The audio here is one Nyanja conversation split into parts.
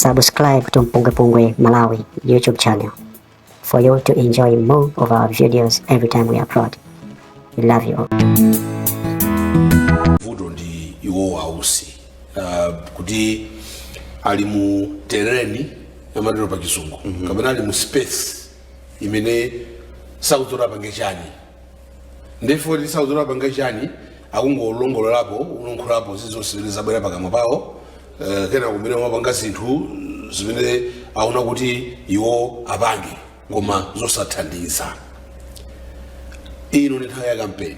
Subscribe to Mpunga Pungwe Malawi YouTube channel for you to enjoy more of our videos every time we upload. We love you all. vuto ndi iwo a Usi uh, kuti ali mu terrain amatero pa chizungu kapena ali mu space imene sakudziwa apange chani nde poti sakudziwa apange chani akungolongololapo kulankhulapo zizonse zimene zabwera pakamwa pawo eh, kena kumene kumapanga zinthu zimene aona kuti iwo apange koma zosathandiza ino ndi nthawi ya kampeni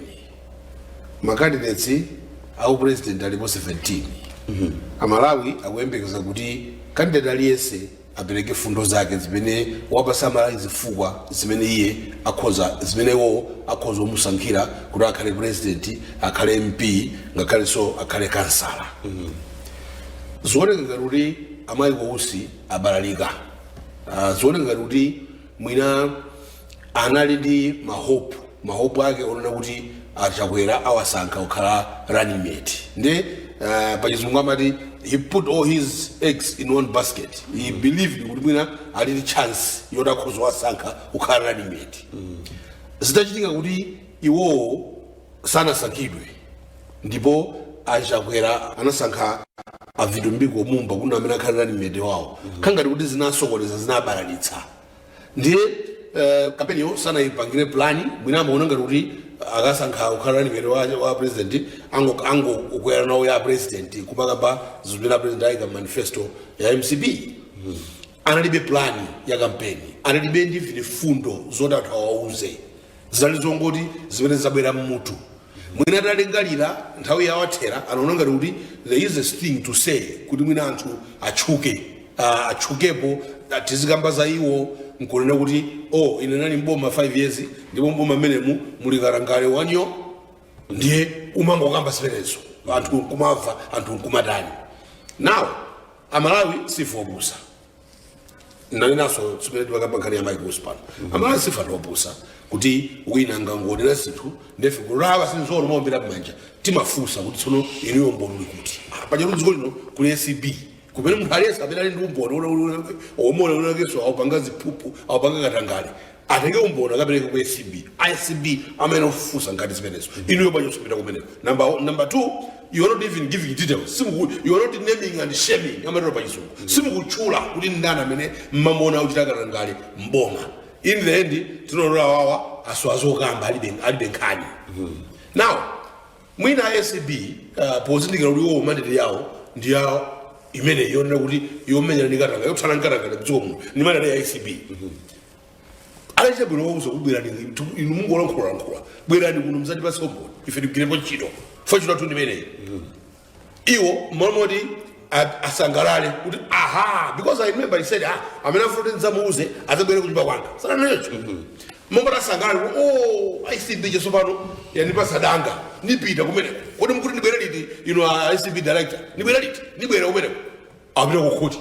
makandideti a upresident alipo 17 amalawi akuyembekeza kuti kandidati aliyense apereke fundo zake zimene ziwapatsa amalawi zifukwa zimene iye akhoza zimene iwowo akhoza kumusankhira kuti akhale president akhale mp ngakhalenso akhale kansala zioneka ngati kuti a Michael Usi abalalika Ah, zioneka ngati kuti mwina anali ndi mahope mahope ake onena kuti a Chakwera awasankha kukhala running mate nde uh, pachizungu amati he put all his eggs in one basket he believed kuti mwina ali ndi chance yoti akhoza kuwasankha kukhala running mate zitachitika kuti iwowo sanasankhidwe ndipo a Chakwera anasankha a Vitumbiko Mumba kukhala amene akhala running mate wawo zikhala ngati kuti zinasokoneza zinabalalitsa ndiye eh, kampeniyo sanayipangire pulani mwina amaona ngati kuti akasankha kukhala running mate wa, wa a president anango- angokwera nawo ya a president kumakamba zimene a president ayika mmanifesto ya mcp analibe pulani ya kampeni analibe ndi mfundo zoti anthu awauze zinali zongoti zimene zabwera mmutu mwina atalingalira nthawi yawo athera anaona ngati kuti there is a thing to say kuti mwina anthu atchuke uh, atchukepo ah, tizikamba za iwo nkunena kuti oh ine ndinali mboma 5 years ndipo mboma mmenemu muli katangale wanyoo ndiye kumangokamba zimenezo anthu nkumamva anthu nkumatani nawo amalawi sife opusa nanenanso pomwe timakamba nkhani ya Michael Usi pano amalawi sife anthu opusa kuti wina akangonena zinthu nde ife kulowa sinzolo kuwombera mmanja timafunsa kuti tsono inuyo umboni uli kuti pajatu dziko lino kuli acb kumene munthu aliyense amene ali ndi umboni oti winawakenso akupanga ziphuphu akupanga katangale atenge umboni akapereke ku acb acb amene ofufuza nkhani zimenezo inuyo bwanji osapita kumeneko number, o- number two you are not even giving details simuku you are not naming and shaming amatero pa chizungu simukutchula kuti ndani amene mumamuona akuchita katangale mboma in the end tingoona awawa asowa zokamba alibe alibe nkhani now Mwina acb pozindikira kuti iwowo mandate yawo ndi ya imene yonena kuti yomenyana ndi katangale yothana ndi katangale mdziko muno ndi mandate ya acb anachita bwino wauza kuti bwerani tu- inu mungolankhulalankhula bwerani kuno mzatipatse umboni ife tigwirepo ntchito chifukwa ntchito yathu ndimeneyi iwo mmalo moti a- asangalale kuti aha because i remember he said ah amene afuna kuti ndidzamuuze adzabwere kunyumba kwanga sananenso mmalo moti asangalale kuti oh acb ija tsopano yandipasa danga nipita kumeneko kodi mkuti ndibwere liti inu a acb director ndibwere liti ndibwere kumeneko apita kukhoti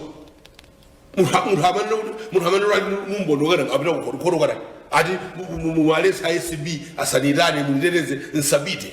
munthu munthu amene munthu amene ali ndi umboni wakana apita kukhoti khoti wakana ati muwaletse acb asaniitane munditeteze nisapite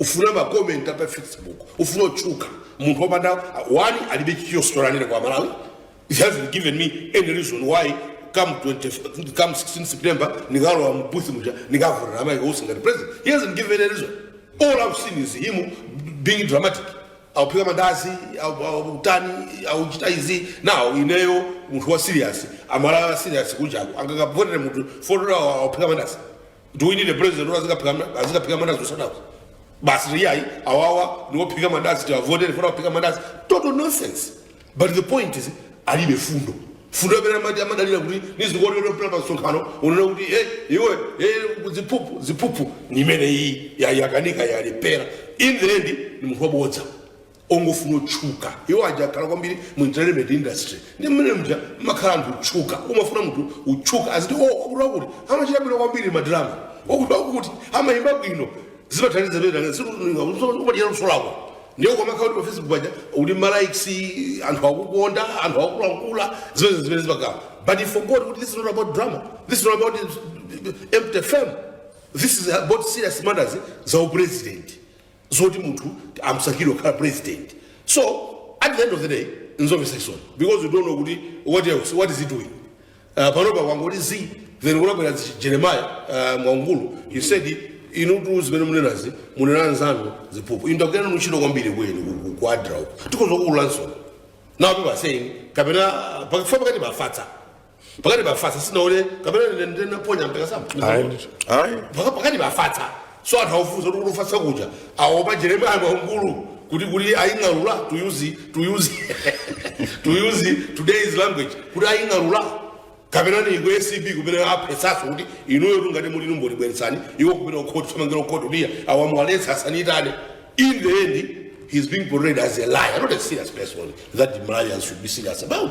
ufuna ma comment apa facebook ufuna kutchuka munthu opanda one alibe key storyline kwa amalawi he hasn't given me any reason why come 20, come 16 september nikalowa mu booth muja nikavotera a michael usi ngati president he hasn't given any reason all i've seen is him being dramatic auphika mandazi au- au- utani auchita izi now ineyo munthu wa serious amalawi a serious kunjako angakavotere munthu chifukwa choti auphika mandazi do we need a president who azikaphika ma- azikaphika mandazi usadaku basi ati ayi awawa niwophika mandazi tiwavotere chifukwa choti aphika mandazi total nonsense but the point is alibe fundo fundo amene amati amadalira kuti nizikuonera mpira pa msonkhano unena kuti e iwe e ziphuphu ziphuphu ni imene iyi yakanika yalephera in the end ni munthu wabodza ongofuna kutchuka iwo aja akhala kwambiri mu entertainment industry ndi mmene muja amakhala anthu otchuka umafuna munthu utchuka aziti o wakuti wakuti amachita bwino kwambiri madrama wakuti wakuti amayimba bwino zimathandiza pena siumadalira luso lako ndiye ukamakhala kuti pa facebook paja uli ndi malikes anthu akukonda anthu akulankhula zimene zimene zimakhala but he forgot kuti this is not about drama this is not about empty fame this is about serious matters za upresident zoti munthu amsankhire kukhala president so at the end of the day nzomvetsa chisoni because you don't know kuti what else what is he doing uh, panopa kwangoti zi then kunabwera zi- jeremiah uh, mwaungulu he said inutu zimene munenazi munena anzanu ziphuphu inu tagwira nanu ntchito kwambiri kwenu ku- ku- ku adra uku tikhoza kuululanso now people are saying kapena pakufika pakatipa afatsa pakatipa afatsa sinaone kapena ndine- ndine naphonya mpaka sama ayi ndithu ayi Paka- pakatipa afatsa so anthu aufunsa kuti kufatsa kuja aopa jeremaya mwaungulu kuti kuti aying'alula to use to use to use today's language kuti aying'alula kapena ni ku acb kumene aphesaso kuti inuyotu ngati muli ndi umboni bweretsani iwo kumene kukhoti athamangira kukhoti kuti iyayi awa muwaletse asaniitane in the end he's being portrayed as a liar not a serious person that the malawians should be serious about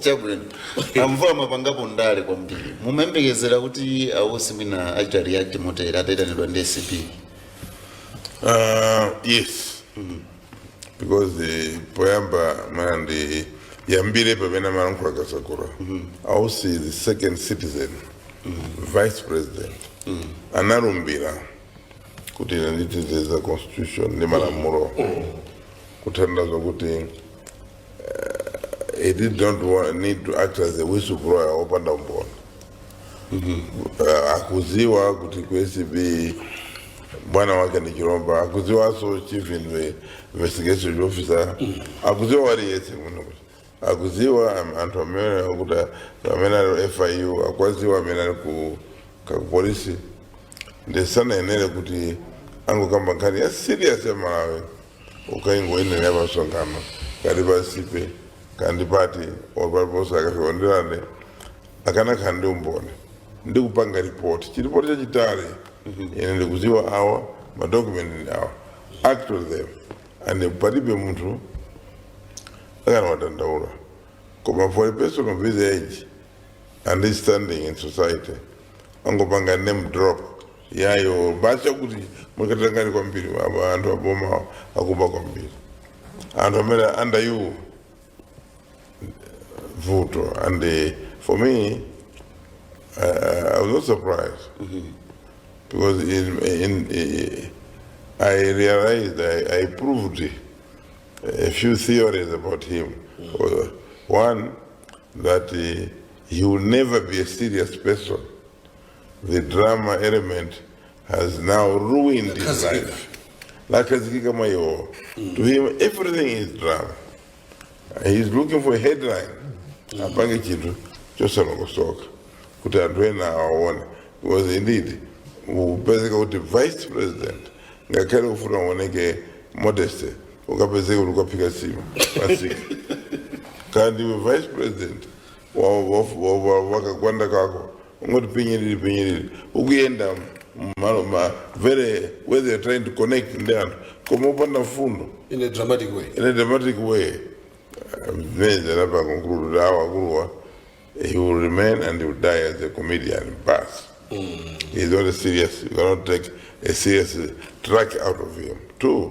chabwino a Mvula mwapangapo ndale kwambiri mumayembekezera kuti a Usi mwina achita react motere ataitanidwa ndi acb Uh, yes because the poyamba mwina ndiyambire pamene amalankhula Kasakula a Usi is the second citizen vice president analumbira kuti ine nditezeza constitution ndi malamulo kutanthauza kuti he did not wa- need to act as a whistleblower opanda umboni uh, akuziwa kuti ku acb bwana wake ndi Chilomba akuziwaso chief inve- investigation officer akuziwa wina aliyese muno akuziwa am- anthu amene kuti amene ali fiu akwaziwa amene ali ku kakupolisi ndiye sanayenere kuti angokamba nkhani ya serious ya malawi kukaiyankhulira pa msonkhano kaya pa sipe kandi pati paliponse akasaonderane akanakhala ndi umboni ndi kupanga ripoti chiripoti chachitali ine ndikuziwa awa madokumenti ndi awa act on them and palibe munthu akanawadandaula koma for a person of his age and his standing in society angopanga name drop yayo basi akuti mwakatakali kwambiri aba anthu aboma akuba kwambiri anthu amene under you vuto and eh, for me uh, i was not surprised because in, in, eh, i realized i, I proved a few theories about him Uh, one that eh, he will never be a serious person The drama element has now ruined his Lakhazikika. life. Yakhazikika mwa iwo. To him, everything is drama. He's looking for a headline. Apange chinthu chosalongosoka kuti anthu ena awaone. Because indeed, kupezeka kuti vice president ngakhale ufuna uoneke modesty ukapezeke ukuti ukaphika nsima pa sipe kandi iwe vice president wa- wa- wa- wa- wakagwanda kako ungoti pinyiriri pinyiriri ukuyenda mmalo mmalo where they are trying to connect ndi anthu koma opanda mfundo in a dramatic way in a dramatic way mwina ndapanga conclude kuti awa akuluwa he will remain and he will die as a comedian basi he's not a serious you cannot take a serious track out of him two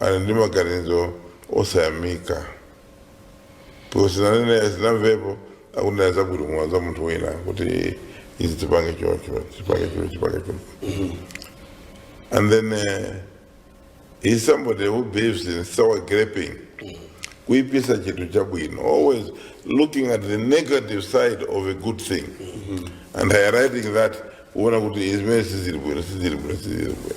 ali ndi maganizo osayamika because sindinawamvepo akunena zabwino mwa za munthu wina kuti izi tipange chocho tipange chocho tipange chocho and then uh, he's somebody who believes in sour graping kuipisa chinthu chabwino always looking at the negative side of a good thing and highlighting that kuona kuti izimene sizili bwino sizili bwino sizili bwino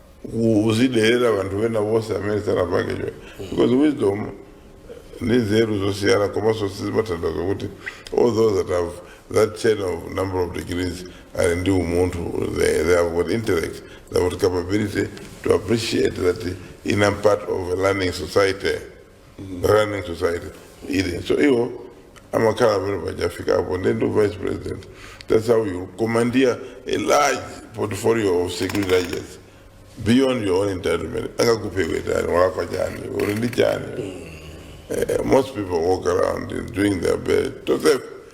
kuziderera vanthu vena vonse amene sanapange choncho because wisdom ndi nzeru zosiyana komanso sizimatanthauza kuti all those that have that chain of number of degrees ali ndi umunthu they, they have got intellect they have got capability to appreciate that I'm a part of a learning society learning society ili so iwo amakhala pamene pachafika apo ndi ndi vice president that's how you commandeer a large portfolio of security agents beyond your own entitlement angakuphe iwe ndani walakwa chani uli ndi chani Eh, most people walk around doing their best to serve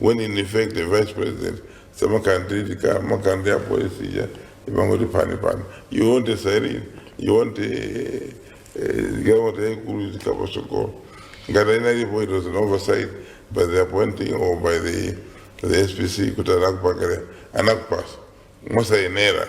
when in effect the vice president samakhala ndi lead car amakhala ndi apolisi ija imangoti pani pani you want a siren you want a eh, galimoto yaikulu izikhala pasogolo ngati inalipo it was an oversight by the appointing or by the, the spc kuti anakupangire anakupasa mosayenera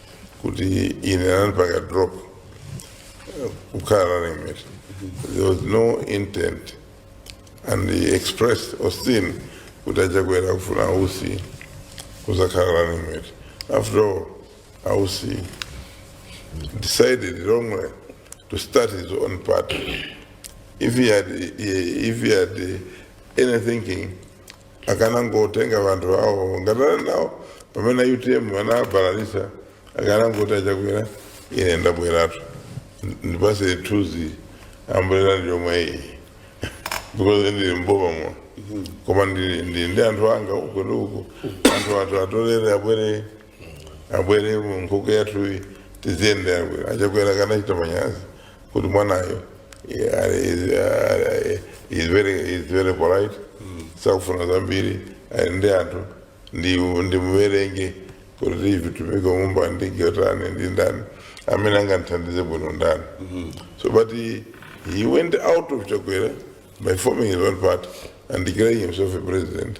kuti ine anandipanga drop eh, kukhala running mate there was no intent and he expressed austin kuti achakwera kufuna ausi kuzakhala running mate after all ausi decided wrongly to start his own party if he had, if he had any thinking akanangotenga vanthu awo ngati ali nawo pamene utm anabalalisa akanangoti achakwera ine ndabweratu ndipase thuzi ambulera ndi yomwe iyi because ndili mboma muno koma ndili ndi ndi anthu anga uko ndi uko anthu athu atolere abwere abwere mu nkhuku yathuyi tiziyende abwere achakwera akanachita manyazi kuti mwanayo eh, ali- is- ah, is very- is very polite sakufuna zambiri ali ndi anthu ndi- ndimuwerenge kuti tivitumike mumba ndi chotani ndi ndani amene angandithandize bwino ndani so but he, he went out of chakwera by forming his own party and declaring himself a president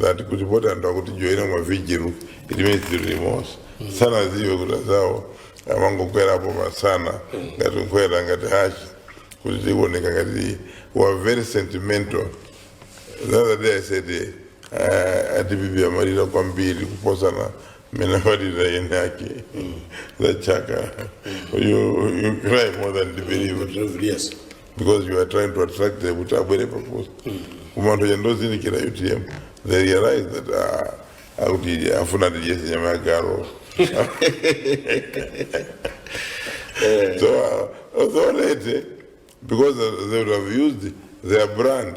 that kuti poti anthu akutijoyina mma vigil it means tili limodzi sanaziwe kuti azawo amangokwera pamsana ngati nkhwera ngati hachi kuti tioneke ngati we're very sentimental the other day i said eh, uh, a dpp amalira kwambiri kuposana mmene amalira eni ake za chaka you, you cry more than the bereaved Yes. because you are trying to attract them kuti abwere pafupi koma anthu atangozindikira utm they realize that ah, akuti afuna atidyese nyama ya galu so uh, so late because they would have used their brand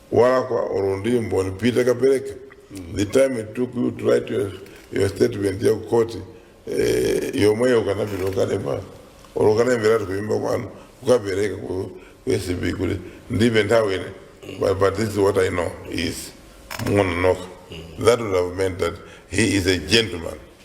walakwa olo ndi mboni pita kapereke the time it took you to write your, your statement ya kukhoti eh, yomweyo ukanapita ukalemba olo ukanalemberatu kunyumba kwanu ukapereka ku ku acb kuti ndilibe nthawi ine but, but this is what i know is mungononoka that would have meant that he is a gentleman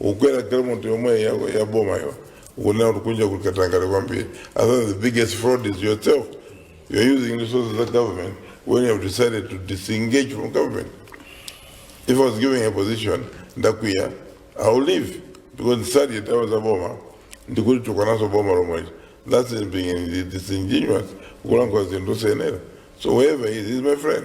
ukwera galimoto yomwe ya, ya boma yo ukunena kuti kunja kuli katangale kwambiri i think the biggest fraud is yourself you're using resources of government when you have decided to disengage from government if i was given a position ndakwiya i will leave because ndisadye za boma ndi kuti ndikutukwananso boma lomwecho that's it being disingenuous kulankhula zinthu senera so whoever he is, he is my friend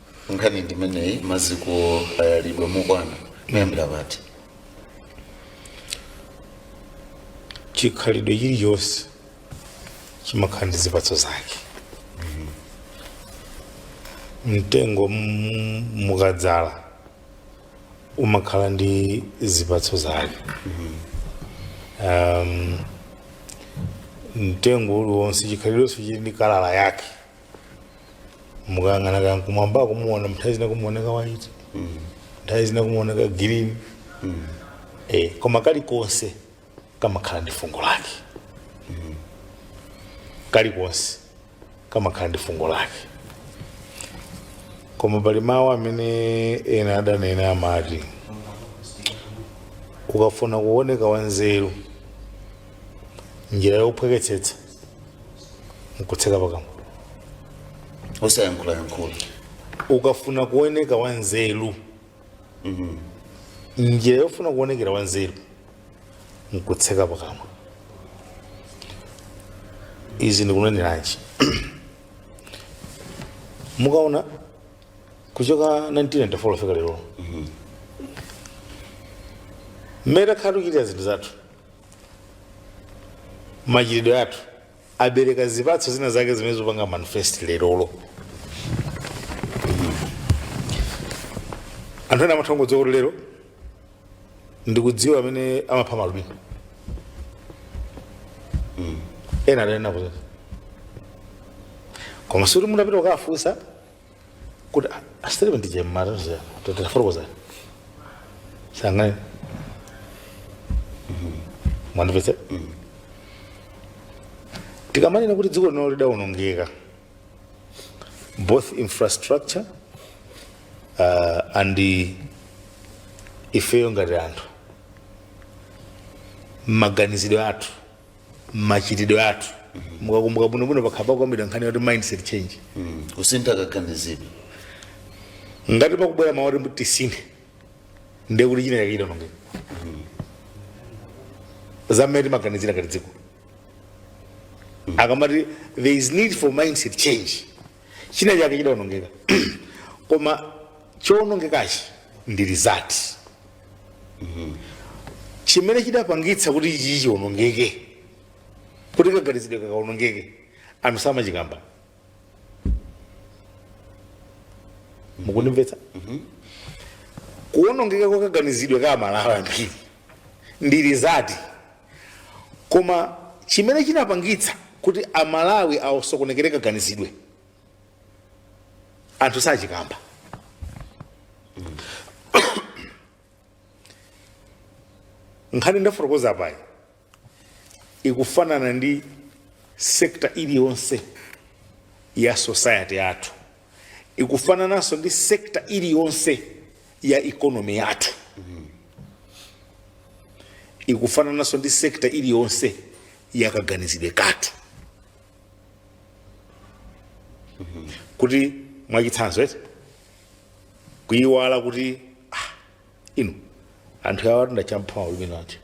nkhani ndimeneyi maziko ayalidwa mokwana kuyambira apa ati chikhalidwe chilichonse chimakhala ndi zipatso zake mtengo m- mukadzala umakhala ndi zipatso zake um, mtengo uliwonse chikhalidwenso chili ndi kalala yake mukayang'ana kaya kumwamba kumuona nthawi zina kumuoneka white nthawi zina kumuoneka green eh, koma kalikonse kamakhala ndi fungo lake kalikonse kamakhala ndi fungo lake koma pali mawu amene ena adanena amati ukafuna kuoneka wanzeru njira yophweketsetsa nkutseka pakamwa osayankhulayankhula ukafuna kuoneka wanzeru njira yofuna kuonekera wanzeru nkutseka pakamwa izi ndikuneneranji mukaona kuchoka 1994 kufika lero mmene takhala tikuchitira zinthu zathu machitidwe athu abereka zipatso zina zake zimene zikupanga manifest lerolo anthu ena amatha kungodziwa kuti lero ndikudziwa amene amapha maalubino ena adanena kuti koma sikuti mutapita kukafunsa kuti asitiribe ndi jemmata zera tatafotokozani sangani mwandipese tikamanena kuti dziko lino lidawonongeka both infrastructure uh, and the ifeyo ngati anthu maganizidwe athu machitidwe athu mukakumbuka bwinobwino pakhala pakukambidwa nkhani yoti mindset change Mm. kusintha kaganizidwe ngati pakubwera mawu oti tisinthe ndiye kuti china chake chidaonongeka za mmene timaganizira ngati dziko akamati there is need for mindset change china chake chidaonongeka koma chowonongekachi ndi result chimene chinapangitsa kuti ichichi chionongeke kuti kaganizidwe kakaonongeke anthu samachikamba mukundimvetsa kuonongeka kwa kaganizidwe ka amalawi ambiri ndi result koma chimene chinapangitsa kuti amalawi asokonekere kaganizidwe anthu sachikamba nkhani ndafotokoza apayi ikufanana ndi sekta iliyonse ya society yathu ikufanananso ndi sekta iliyonse ya economy yathu ikufanananso ndi sekta iliyonse ya kaganizidwe kathu kuti mwachitsanzo eti kuyiwala kuti ah, inu anthu awa ndi amene anapha ulimi eti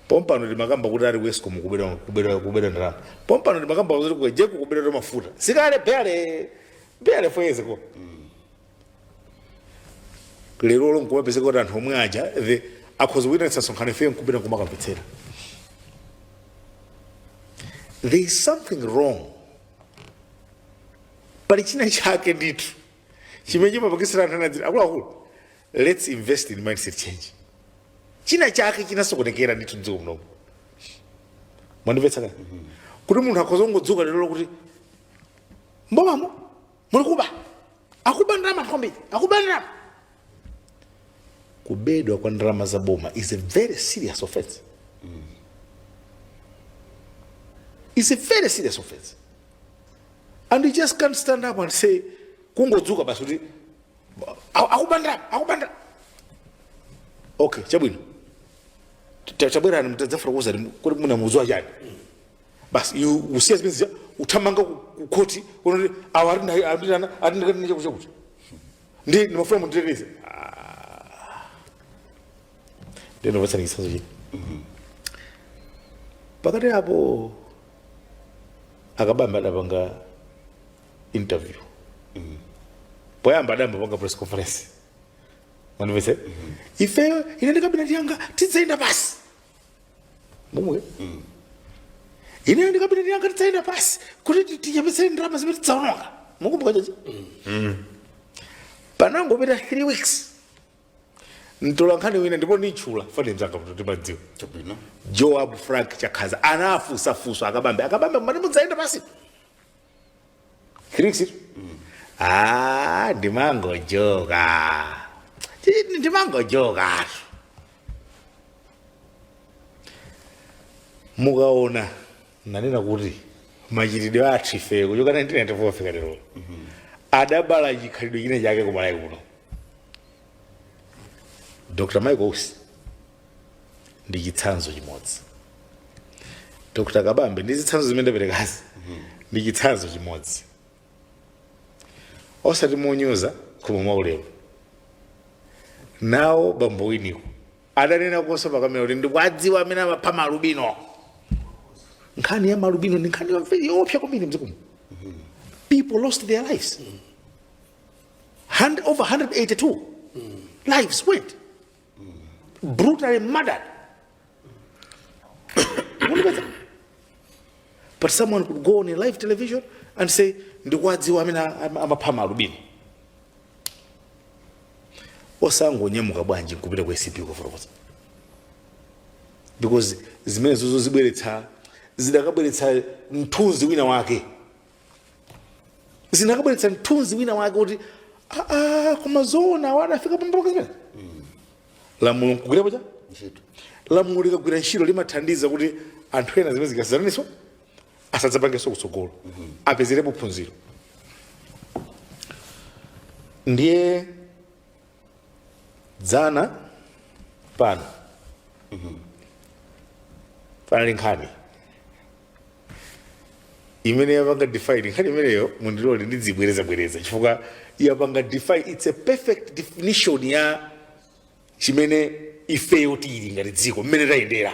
pompano timakamba kuti ali ku escom kubera kubera kubera ndalama pompano timakamba kuti ku egenco kubera timafuta sikale bale bale foyezeko lerolo nkumapezeka kuti anthu omwe aja the akhoza kuitanitsa msonkhano ifeyo nkupita nkumakamvetsera there is something wrong pali china chake ndithu chimene chimapangitsa anthu ena aja akuluakulu let's invest in mindset change china chake chinasokonekera ndithu mdziko munomo mwandimvetsa kani kuti munthu akhoza kungodzuka lero kuti mbomamo muli kuba akuba ndalama anthu kwambiri akuba ndalama kubedwa kwa ndalama za boma is a very serious offense is a very serious offense and you just can't stand up and say kungodzuka basi kuti "A- akuba ndalama akuba ndalama okay chabwino tabwerani mudzafotokoze kuti mukudziwa chani basi iwe usiya zimene zija uthamanga ku- ku khoti unaona kuti awa anditana anditana andi kani chakuti chakuti ndi ndimafuna munditeteze ndikupatseni chitsanzo china pakati apo akabambe adapanga interview poyamba adayamba apanga press conference mwandimvetsa ifeyo ine ndi kabineti yanga tidzayenda pansi momwe ineyo ndi kabineti yanga tidzaenda pansi kuti ti- tichepetsere ndalama zimene tidzaononga mukumbuka chani panangopita 3 weeks mtolankhani wina ndipo nditchula pano mzanga poti timadziwana chabwino joab frank chakhaza anafunsa funso akabambe akabambe mwati mudzaenda pansi Kirikisiro? Ah, ndimangojoka. Ndi- Ndimangojoka. Mukaona nanena kuti machitidwe athu ife kuchoka 1994 fika lero adabala chikhalidwe china chake kumalawi kuno dr michael usi ndi chitsanzo chimodzi dr kabambe ndi zitsanzo zimene ndaperekazi ndi chitsanzo chimodzi osati monyoza koma mwaulemu nawo bambo winiko adanenakonso pakamera kuti ndikuwadziwa amene amapha malubino nkhani ya malubino ndi nkhani yoopsa kwambiri mdziko muno people lost their lives And, over 182 lives went brutally murdered. Unapeza? but someone could go on a live television and say ndikuwadziwa amene am- amapha malubino osangonyamuka bwanji nkupita ku acb kufotokoza because zimenezozo zibweretsa zidakabweretsa mthunzi wina wake zinakabweretsa mthunzi wina wake kuti aa koma zoona awa adafika pambuka zimene lamulo nkugwira pa ntchito lamulo likagwira ntchito limathandiza kuti anthu ena zimene zikufanana ndi izo asadzapangenso kutsogolo apezerepo phunziro ndiye dzana pano panali nkhani imene yapanga define nkhani imeneyo mundilole ndidzibwerezabwereza chifukwa yapanga define its a perfect definition ya chimene ifeyo tili ngati dziko mmene tayendera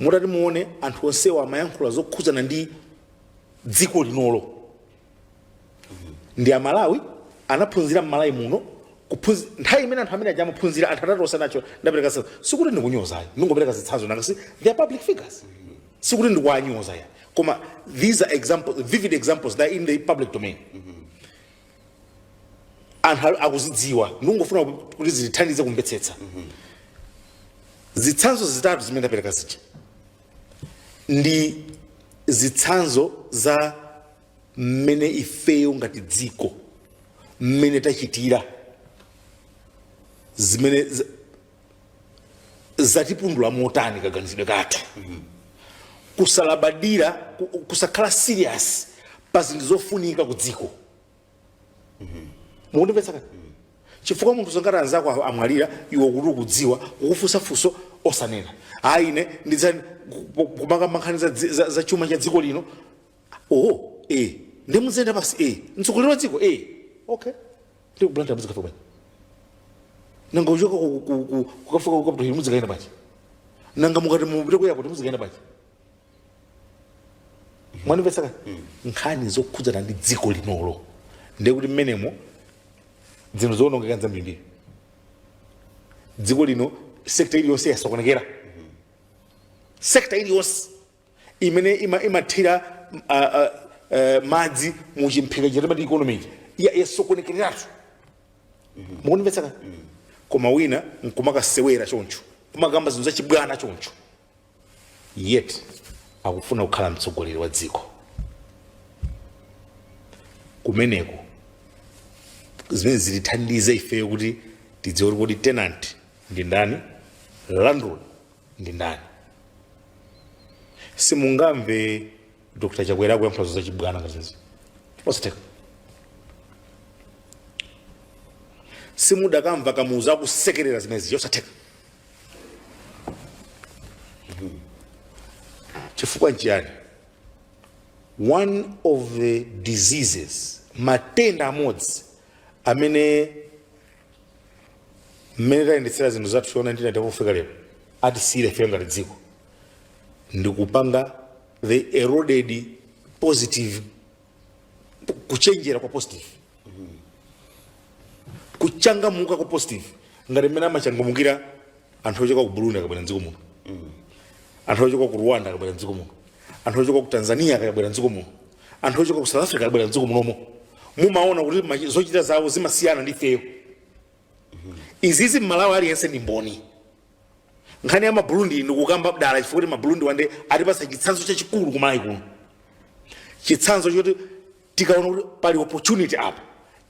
mutati muone anthu onsewa amayankhula zokhudzana ndi dziko linolo ndi amalawi anaphunzira mmalawi muno kuphunzi- nthawi imene anthu amene aja amaphunzira anthu atatu onse aja ndapereka zitsanzo sikuti ndikunyoza ayi ndingopereka zitsanzo nanga si they are public figures sikuti ndikuwanyoza ayi koma these are examples vivid examples that are in the public domain anthu ali- akuzidziwa ndikungofuna kuti zitithandize kumvetsetsa zitsanzo zitatu zimene ndapereka zija ndi zitsanzo za mmene ifeyo ngati dziko mmene tachitira zimene z- zatipundula motani kaganizidwe kathu kusalabadira kusakhala serious pa zinthu zofunika ku dziko mukundimvetsa kaye chifukwa munthu zongati anzako a- amwalira iwe kuti ukudziwa kukufunsa funso nkumanena ayi ine ndidzakamba nkhani za, dzi- za, za chuma cha dziko lino oho e ndiye mudzenda pansi e mtsogoleri wa dziko e okay ndi ku blantyre mudzikafika bwanji nanga uchoka ku- ku- ku- kukafika ku capital hill mudzikaenda bwanji nanga mukati mupite ku airport mudzikaenda bwanji mwanimvetsa ka nkhani zokhudzana ndi dziko linolo ndiye kuti mmenemo zinthu zoonongeka nzambirimbiri dziko lino sekta iliyonse yasokonekera sekta iliyonse imene ima- imathira mm, a- a- eh, madzi mu chimphika chimene timati economy ya- yasokonekereratu mukunimvetsa koma wina nkumakasewera choncho kumakamba zinthu zachibwana choncho yet akufuna kukhala mtsogoleri wa dziko kumeneko zimene zitithandize ifeyo kuti tidziwe kuti kodi tenant ndi ndani landlord ndi ndani simungamve dr chakwera akuyankhula za chibwana ngati izi zosatheka simudakamva kamuzu akusekerera zimenezi zosatheka chifukwa nchiyani one of the diseases matenda amodzi amene mmene tayendetsera zinthu zathu from 1994 kufika lero atisiyire ife ngati dziko ndikupanga the eroded positive kuchenjera kwa positive kuchangamuka kwa positive ngati mmene amachangamukira anthu ochoka ku burundi akabwera mdziko muno anthu ochoka ku rwanda akabwera mdziko muno anthu ochoka ku tanzania akabwera mdziko muno anthu ochoka ku south africa akabwera mdziko munomo mumaona kuti machi- zochita zawo zimasiyana ndi ifeyo izizi mmalawi aliyense ndi mboni nkhani ya maburundi ndikukamba dala chifukwa kuti maburundi rwanda atipasa chitsanzo chachikulu kumalawi kuno chitsanzo choti tikaona kuti pali opportunity apa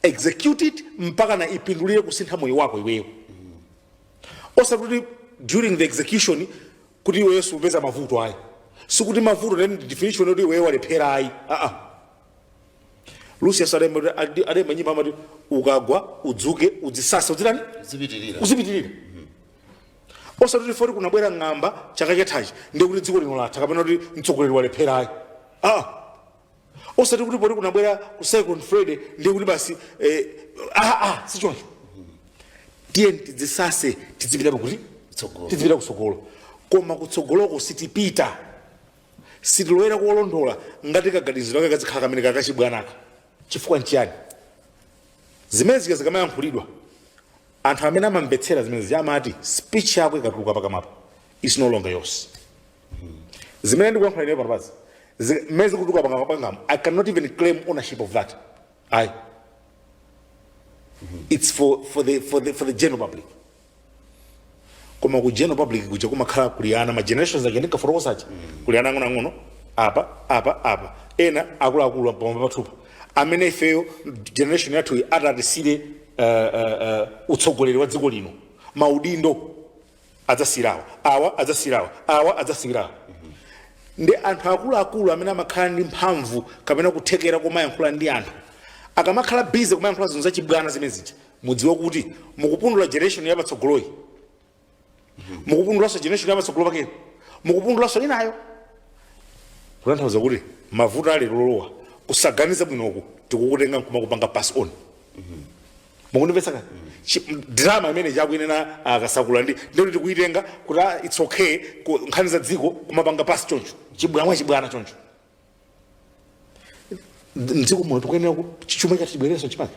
execute it mpaka na ipindulire kusintha moyo wako iweyo osati kuti during the execution kuti iweyo supeza mavuto ayi sikuti mavuto ndi definition yoti iweyo walephera ayi aa lucius alemba kuti- adi- adaimba nyimbo amati ukagwa udzuke udzisase udzitani zipitirira uzipitirira osati kuti poti kunabwera ng'amba chaka chathachi ndikuti dziko lino latha kapena kuti mtsogoleri walephera ayi aa osati kuti poti kunabwera ku second friday ndi kuti basi eh, ah, ah, sichoncho tiyeni tidzisase tidzipita pakuti tidzipita kutsogolo koma kutsogoloko sitipita sitilowera kolondola ngati kaganiziro kake kadzikhala kamene kakachibwanaka chifukwa nchiyani zimene zija zikamayankhulidwa anthu amene amamvetsera zimene zija amati speech yako ikatuluka pakamwapa is no longer yours zimene ndikuyankhula ineyo panopazi mmene zikutuluka pakamwa pangapa i cannot even claim ownership of that ayi it's for, for, the, for, the, for the general public koma ku general public kuja kumakhala kuli ana ma generations aja ndinkafotokoza aja kuli ana ang'onoang'ono apa apa apa ena akuluakulu pamwamba pathupa amene ifeyo generation yathuyi atatisiyire uh, uh, uh, utsogoleri wa dziko lino maudindo adzasiyira awa awa adzasiyira awa awa adzasiyira awa ndi anthu akuluakulu amene amakhala ndi mphamvu kapena kuthekera komayankhula ndi anthu akamakhala busy kumayankhula zinthu zachibwana zimene zija mudziwe kuti mukupundula generation yapatsogoloyi mukupundulaso generation yapatsogolo pakeyo mukupundulaso inayo kutanthauza kuti mavuto ali olowa kusaganiza bwinoku tikukutenga nkumakupanga pass on mukundimvetsa kani Chi- m- drama imene Chakwera akasakala ndi ndikuti tikuyitenga kuti ah, its okay ku- nkhani za dziko kumapanga pasi choncho chibwana chibwana choncho Nd- mdziko muno tikuyenera ku- chi- chuma chathu chibwereso mchimake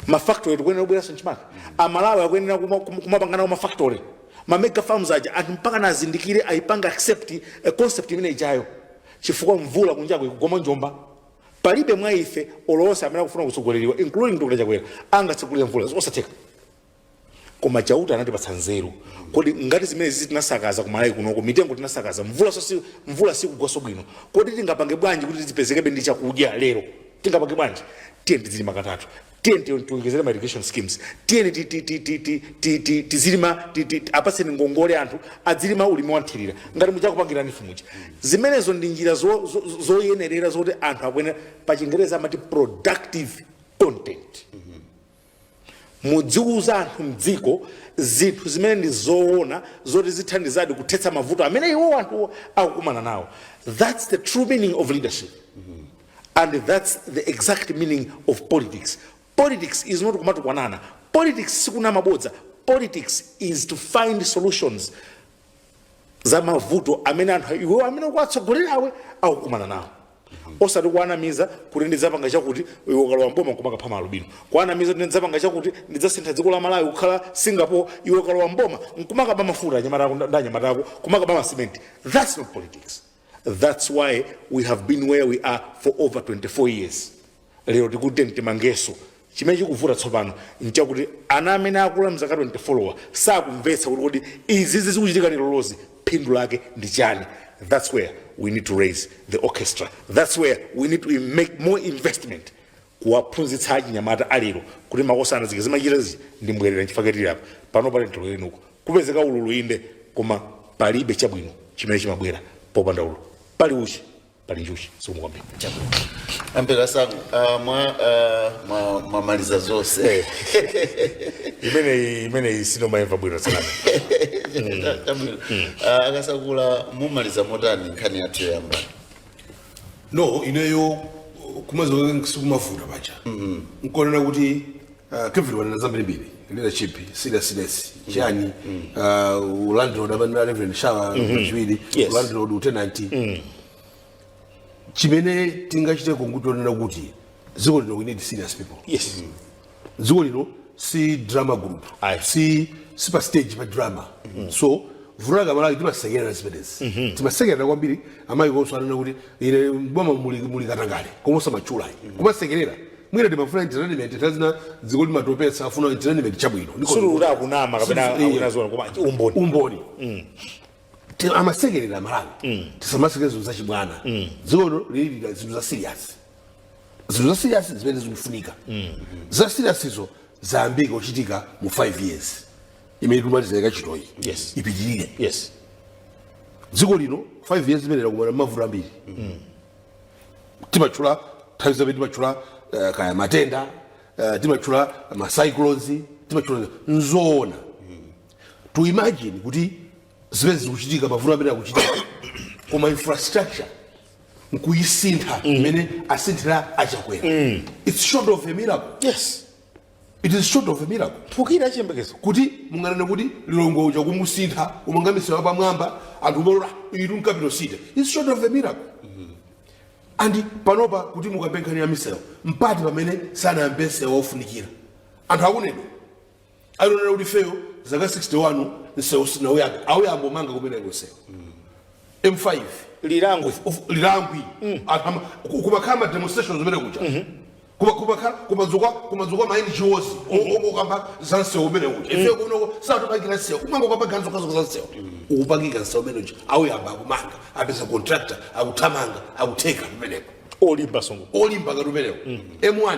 mafactory tikuyenera kubwereraso mchimake amalawi akuyenera kuma- kuma- kumapangana ku mafactory mamega farms aja anthu mpaka azindikire ayipange accept a concept imene ijayo chifukwa mvula kunjako ikugoma njomba Palibe mwa ife olo onse amene akufuna kutsogoleriwa including Dr Chakwera angatsegulire mvula zosatheka koma Chauta anatipatsa nzeru kodi ngati zimene zizi tinasakaza ku Malawi kunoko mitengo tinasakaza mvulaso si mvula sikugwaso bwino kodi tingapange bwanji kuti tizipezekabe ndi chakudya lero tingapange bwanji tiyeni tizilima katatu tiyeni ti- tiwonjezere ma irrigation schemes tiyeni ti- ti- ti- ti- ti- ti- ti- tizilima ti- ti- ti- apatseni ngongole anthu adzilima ulimi wanthirira ngati muja akupangira ife muja zimenezo ndi njira zo- zo- zo- zoyenerera zoti anthu akuyenera pa chingereza amati productive content mudziwuza anthu mdziko zinthu zimene ndi zoona zoti zithandizadi kuthetsa mavuto amene iwo anthu akukumana nawo that's the true meaning of leadership and thats the exact meaning of politics politics is not kumatukwanana politics sikunama mabodza politics is to find solutions za mavuto amene anthu iwewo amene ukuwatsogolerawe akukumana nawo osati kuwanamiza kuti ndidzapanga chakuti iwe ukalowa mboma kumakapha maalubino kuwanamiza kuti ndidzapanga chakuti ndidzasintha dziko la malawi kukhala singapore iwe ukalowa mboma nkumakaba mafuta ndi anyamata ako kumakaba masimenti thats not politics That's why we have been where we are for over 24 years. Lero tikuti tiyeni timangeso chimene chikuvuta tsopano nchakuti ana amene akula mzaka 24 sakumvetsa kuti kodi izizi zikuchitika lerozi phindu lake ndi chani. That's where we need to raise the orchestra. That's where we need to make more investment kuwaphunzitsa achinyamata alero kuti makosana zija zimachita zija ndi mbwerera nchifukwa chake tili apa panopa lero lino kukupezeka ululu inde koma palibe chabwino chimene chimabwera popanda ululu pali uchi pali njuchi zikomo kwambiri ampera sangu ah, mwa ah, mwa- mwamaliza zonse imeneyi imeneyi sindimayimva bwino tsanana Chabwino. Ah, a Kasakula mumaliza motani nkhani yathu yoyamba no ineyo kumalizako sikumavuta paja nkunena kuti ah, kevin wanena zambirimbiri leadership seriousness chani ah, ulandlord amanena reverend shawa pachiwiri Yes. ulandlord utenanti chimene tingachite kungonena kuti ziko lino we need serious people yes dziko lino si drama group Ayi. si si pa stage pa drama so vuto lake amalawi timasekerera zimenezi timasekerera kwambiri amayi konso anena kuti ine mboma muli muli katangale koma osamatchula kumasekerera mwina timafuna entertainment nthawi zina dziko limatopetsa afuna entertainment chabwino Ndiko- sululuta akunama kapena Sulu- akunena zoona koma umboni umboni Ti- amasekerera amalawi tisamasekerera zinthu zachibwana dziko lino likulira zinthu za serious zinthu za serious zimene zikufunika za seriouszo zayambika kuchitika mu 5 years imene tikumaliza ika chitoyi Yes. ipitirire yes dziko lino 5 years imene lakumana mavuto ambiri timatchula nthawi zambiri timatchula eh, kaya matenda eh, timatchula macyclones timatchula nzoona to imagine kuti zimene zikuchitika mavuto amene akuchitika koma infrastructure nkuyisintha mm. imene mm. asinthira achakwera mm. its short of a miracle yes it is short of a miracle tukira chiyembekezo kuti munganene kuti Lilongwe uja kumusintha kumanga misewu pamwamba anthu kumalowera mu capital city its short of a miracle mm -hmm. and panopa kuti mukambe nkhani ya misewo mpati pamene sanayambe msewu ofunikira anthu aku Neno alionera kuti ifeyo zaka 61 msewu sanauyambe auyamba kumanga kumeneko msewu m5 Lirangwe Of- of- Lirangwe Anthu ama- ku- kumakhala ma demonstrations kumene kuja Kuma- kumakhala kumadzuka kumadzuka ma ngos okamba za msewu umene uja ife kuno sakutipangira msewu kumangokamba nzokhazokha za msewu ukupangika msewu umene uja auyamba akumanga apeza contractor akuthamanga akutheka kumeneko olimba msewu olimba ngati umenewo m1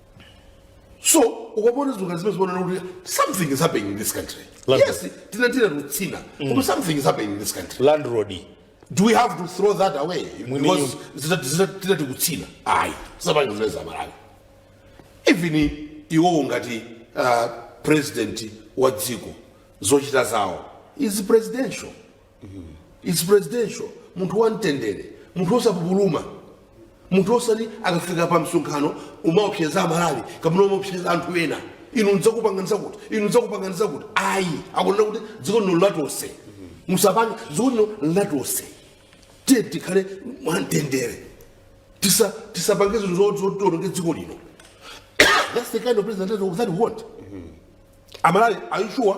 so ukapona zinthu zimene zikuoneka kuti something is happening in this country landlord. yes tinatira lutsina koma something is happening in this country landlord do we have to throw that away Mwini because zita- zita- tinati kutsina ayi sapange zimene aMalawi even iwowo ngati uh, president wa dziko zochita zawo is presidential its presidential munthu wamtendere munthu osapupuluma munthu osati akafika pa msonkhano umaopseza amalawi kapena umaopseza anthu ena inu ndidzakupanganiza kuti inu ndidzakupanganiza chakuti ayi akunena kuti dziko lino latose musapange dziko lino latose tiye tikhale mwamtendere Tisa- tisapange zinthu zo- zoti tiononge dziko lino that's the kind of president that we want amalawi are you sure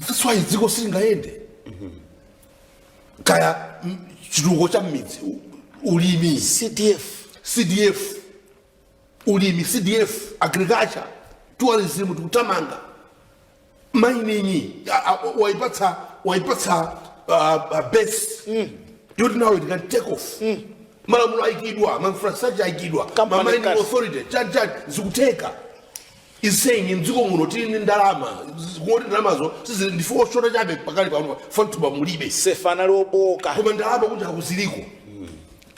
that's why dziko silingayende kaya mm, chitukuko cha mmidzi u- ulimi cdf cdf ulimi cdf agriculture tourism tikutamanga mining a- a- waipatsa waipatsa uh, uh, base yoti now it can take off malamulo aikidwa mainfrastructure aikidwa Company mamining cars. authority chanichani zikutheka is saying mdziko muno tili ndi ndalama ngoti ndalamazo sizili ndife oshota chabe pakali pano fantuba mulibe sefa anali oboka koma ndalama kunjaku ziliko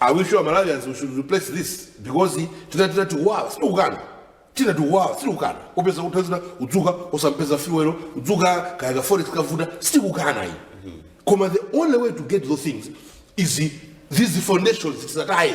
are we sure malawians we should replace this because zina zina zikuwawa sitikukana zina zikuwawa sitikukana upeza kutha zina udzuka osampeza fuel udzuka kaya ka forex kavuta sitikukana iyi koma the only way to get those things is these foundations tisataye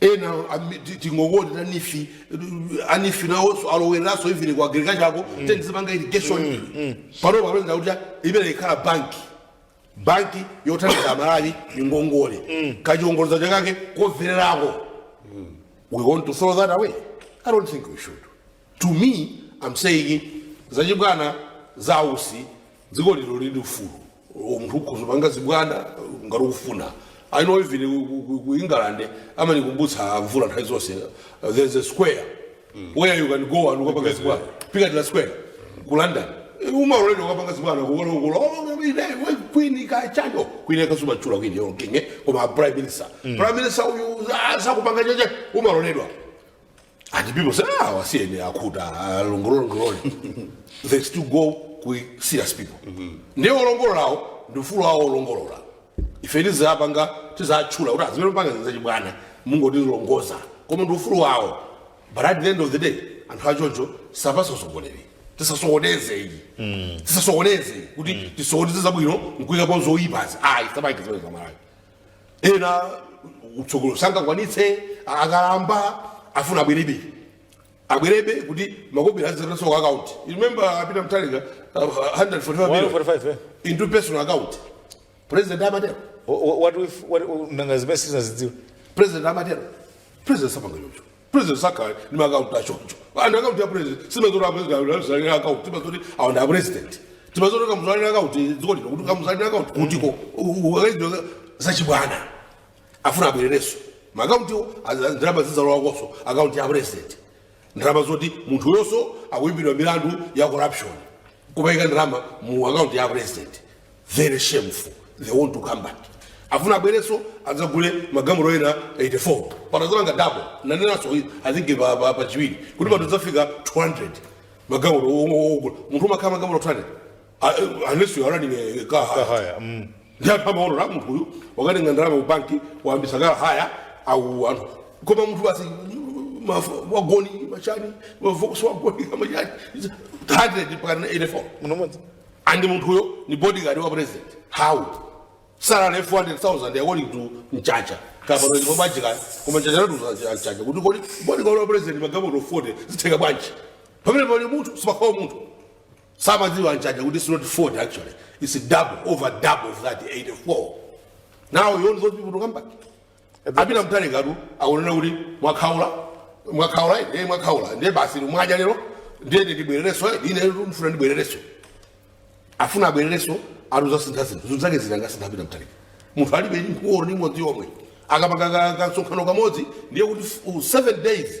ena ami- ti- tingongoti anifi anifi nawonso alowereranso even ku agriculture ako ten zimanga irrigation pano alonjeza kuti imene ikhala banki banki yothandiza amalawi ya ngongole ya chiongoladzanja chake chotsikirako we want to throw that away i don't think we should to me am saying zachibwana za ausi dziko lino lili ndi ufulu munthu ukhoza panga zibwana ngati ukufuna i know even ku- ku- ku- ku england amanikumbutsa mvula nthawi zonse uh, there's a square where you can go and ukapanga zibwana piccadilly square ku london umaloledwa kukapanga zibwana kukalongolola queen kachando queen kasumatchula queen or king koma prime minister prime minister uyu ah, sakupanga chakuti umaloledwa And people say, ah, wasiyeni akhuta alongolole-longolole. They still go ku serious people. Ndiye olongololawo ndi ufulu wawo olongolola. Ife sizapanga sitizatchula kuti zimene mupanga zachibwana mungodzilongolola koma ndi ufulu wawo. But at the end of the day anthu achocho sapasa usogoleri. Tisasokoneze iyi. Tisasokoneze kuti tisokoneze zabwino nkuyikapo zoyipazi. Ayi tisamaisokoneze Malawi. ena utsogolo sangakwanitse akalamba afuna abwerebe abwerebe kuti makobiri azitaso ku account You remember a Peter Mutharika uh, 145 million 145, eh? into personal account president amatero Wha- wha- what if- what- nanga zimene sitinazidziwe president amatero president sapanga chocho president sakhala ndi maakaunti achoncho and akaunti ya president simazoti apresident akaunti timazoti awa ndi apresident timadziwa kuti Kamuzu ali ndi akaunti dziko lino kuti Kamuzu ali ndi akaunti kutiko akaizidwa zachibwana afuna abwererenso maakauntiwo ndalama zizalowakonso akaunti ya president ndalama zoti munthuyonso akuimbidwa milandu ya corruption kumaika ndalama mu akaunti ya president very shameful they want to come back afuna abwerenso adzagule magalimoto ena 84 patazalanga double nanenanso i think pa- pa- pachiwiri kuti patu zafika 200 magalimoto ogula munthu umakhala magalimoto 200 Uh, unless you are running a car hire. Haya, mm. ndi anthu amaonera munthu uyu wakatenga ndalama ku banki wayambisa car hire au anthu koma munthu basi mafu- wagoni machani ma Volkswagen machani 100 mpaka 84 munthu mmodzi and munthuyo ni bodyguard wa president how salary 400000 according to mchacha kapano ndipo bajika koma mchacha latu mchacha kuti kodi bodyguard wa president magalimoto 40 zitheka bwanji pamene pali munthu sipakhawa munthu samadziwa Mchacha kuti it's not 40 actually it's double over double of that 84 now you want those people to come back a Peter Mutharikatu akunena kuti mwakhaula mwakhaula ine mwakhaula ndiye basi mwaja lero ndiye ndibwerereso ine ndifuna ndibwerereso afuna abwerereso akuzasintha zinthu zinthu zake zitanga sintha a Peter Mutharika munthu alibe nkhuwo ni modzi omwe akapanga ka- ka- kasonkhano kamodzi ndiye kuti f- u- seven days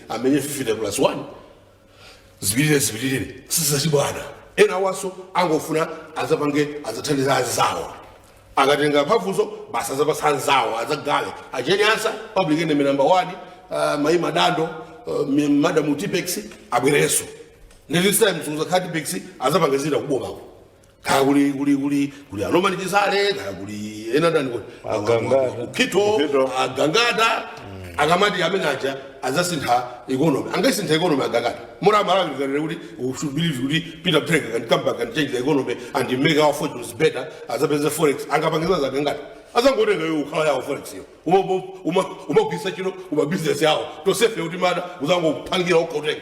amenye 50 plus 1 zipitirire zipitirire sizachibwana ena awanso angofuna azapange azathandiza azawo akatenga mphamvuzo basi azapasa anzawo azakhale a Jane Ansah public enemy number 1 uh, mai madando uh, mi- madam Tippex abwerenso ndi this time suzakhala Tippex azapanga zina kubomako kaya kuli kuli kuli kuli a Norman Chisale kaya kuli ena ndani kuti Agangata. Mukhito Mukhito. agangata akamati amene aja azasintha economy angaisintha economy agangata mura malawi kanene kuti we should believe kuti Peter Mutharika can come back and change the economy and make our fortunes better azapeze forex angapangiza zagangata azangotenga yo ikhala yawo forex yo Uma- uma- uma- kumagwiritsa ntchito mmabizinesi awo tonsefe kuti mada uzangopangira okhotenga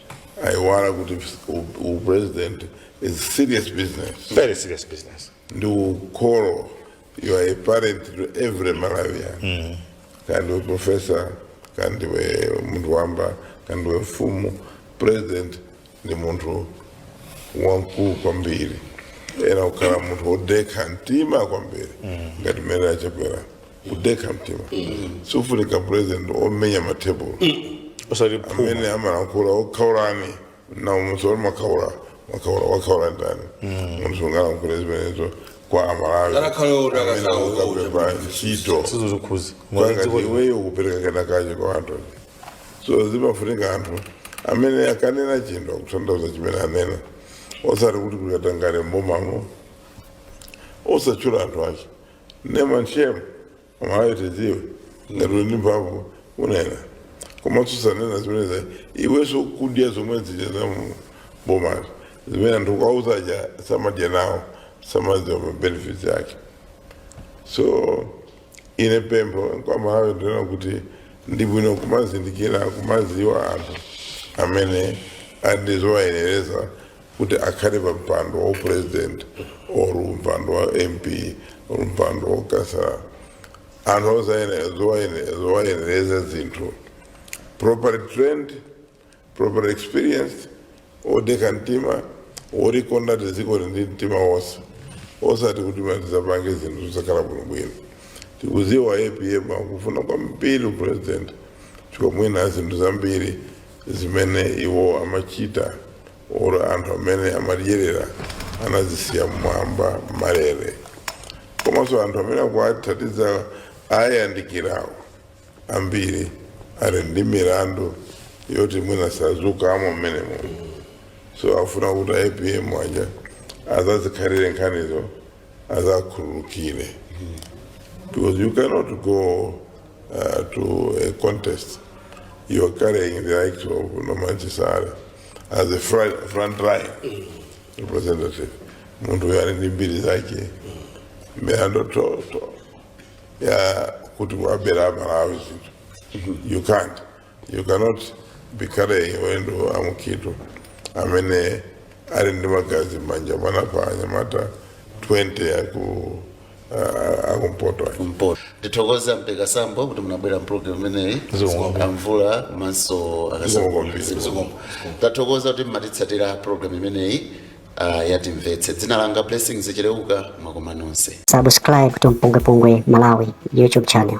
aiwala kuti u- upresident is serious business very serious business ndi ukholo you are a parent to every malawian kandiwe professor kandiwe munthu wamba kandiwe mfumu president ndi munthu wamkulu kwambiri ayenera kukhala munthu wodekha mtima kwambiri ngati mmene achakwera kudekha mtima sufunika president omenya matebulo osati phuma amene amalankhula akhaula ndani munthu wali makhaula makhaula wakhaula ndani munthu sungalankhule zimenezo kwa amalawi Ngakhale oti amene akakhala oti akukapempha ntchito sizo zikhuza kwangati iweyo kupereka kenakacho kwa anthu so zimafunika anthu amene akanena chinthu akutanthauza chimene anena osati kuti kukatangale mbomamo osatchula anthu ake name and shame amalawi tidziwe ngati uli ndi mphamvu kunena koma usanena zimenezo iwenso ukudya zomwe zija za mu bomali zimene anthu akuwauza aja samadya nawo samadziwa mabenefits ake so ine pempho kwa malawi ndi kunena kuti ndi bwino kumazindikira kumaziwa anthu amene ali ndi zowayenereza kuti akhale pa mpando wa upresident or mpando wa mp or mpando wa khansala anthu osayenera zowayenera zowayenereza zinthu properly trained properly experienced odekha mtima olikonda dziko ndi mtima wonse osati kuti mwati azapange zinthu zosakhala bwinobwino tikuziwa apm akufuna kwambiri upresident chifukwa mwina zinthu zambiri zimene iwo amachita or anthu amene amadyerera anazisiya mmwamba malere komanso anthu amene akuwathandiza ayandikirawo ambiri ali ndi milandu yoti mwina sadzatulukamo mmenemo so afuna kuti apm aja azazikhalire nkhanizo azakhululukire because you cannot go uh, to a contest you are carrying the likes of Norman Chisale as a front, front line representative munthu uyo ali ndi mbiri zake milandu toto ya kuti wabera amalawi zinthu you can't You cannot be carrying anthu a Mukhito amene ali ndi magazi m'manja mwawo pa anyamata 20 aku uh, akumpoto mpoto ndithokoza mpeka sambo kuti munabwera mpulogalamu imeneyi omvera komanso akasakombo tathokoza kuti mmatitsatira pulogalamu imeneyi ah, ya Timvetse dzina langa blessings cheleuka mwakoma nonse Subscribe to Mpungwepungwe Malawi YouTube channel.